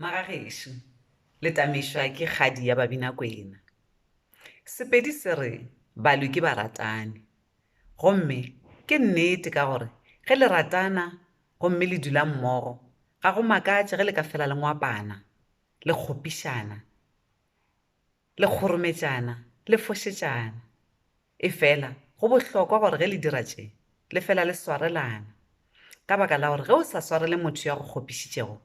Magagešo le tamešwa ke kgadi ya Babinakwena. Sepedi se re balwi ke baratani. Gomme ke nnete ka gore ge le ratana gomme le dula mmogo, ga go makatše ge le ka fela le ngwapana, le kgopišana, le kgorometšana, le fošetšana. Efela go bohlokwa gore ge le dira tše, le fela le swarelana. Ka baka la gore ge o sa swarele motho yo a go kgopišitšego,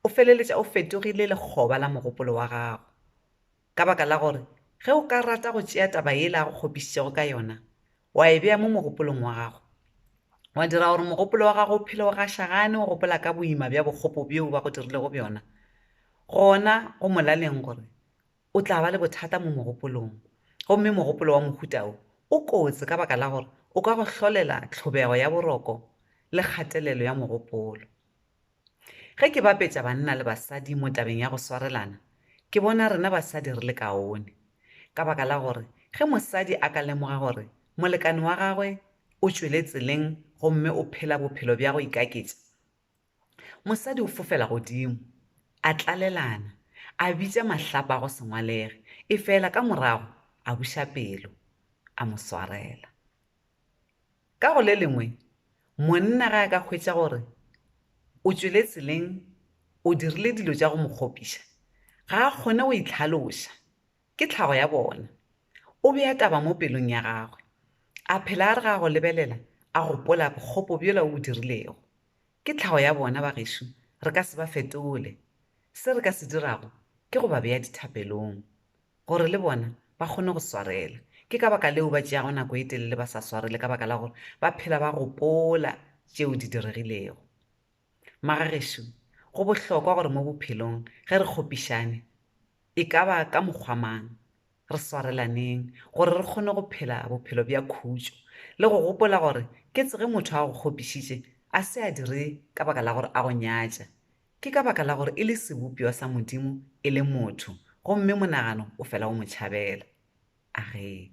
o feleletša o fetogile lekgoba la mogopolo wa gago. Ka baka la gore ge o ka rata go tšea taba yela a go kgopišitšego ka yona, wa e bea mo mogopolong wa gago, wa dira gore mogopolo wa gago o phele o gašagane o gopola ka boima bja bokgopo bjo ba go dirilego bjona, gona go molaleng gore o tla ba le bothata mo mogopolong, gomme mogopolo wa mohuta wo o kotsi ka baka la gore o ka go hlolela tlhobego ya boroko le kgatelelo ya mogopolo. Ge ke bapetša banna le basadi mo tabeng ya go swarelana, ke bona rena basadi re le kaone, ka baka la gore ge mosadi a ka lemoga gore molekane wa gagwe o tšwele tseleng gomme o phela bophelo bja go ikaketša, Mosadi o fofela godimo, a tlalelana, a bitša mahlapa a go se ngwalege, efela ka morago a buša pelo, a mo swarela. Ka go le lengwe, monna ge a ka hwetša gore o tšwele tseleng, o dirile dilo tša go mo kgopiša, ga a kgone go itlhaloša, ke tlhago ya bona, o bea taba mo pelong ya gagwe, a phela a re ge a go lebelela a gopola bokgopo bjola o bo dirilego. Ke tlhago ya bona bagešo, re ka se ba fetole. Se re ka se dirago ke go ba bea dithapelong, gore le bona ba kgone go swarela. Ke ka baka leo ba tšeago nako e telele ba sa swarele ka baka la gore ba phela ba gopola tšeo di diregilego. Maga gešo, go bohlokwa gore mo bophelong ge re kgopišane, e ka ba ka mokgwa mang, Re swarelaneng gore re kgone go phela bophelo bja khutšo le go gopola gore ketse ge motho a go kgopišitše a se a dire ka baka la gore a go nyatša. Ke ka baka la gore e le sebopša sa Modimo e le motho gomme monagano o fela o mo tšhabela. Agee.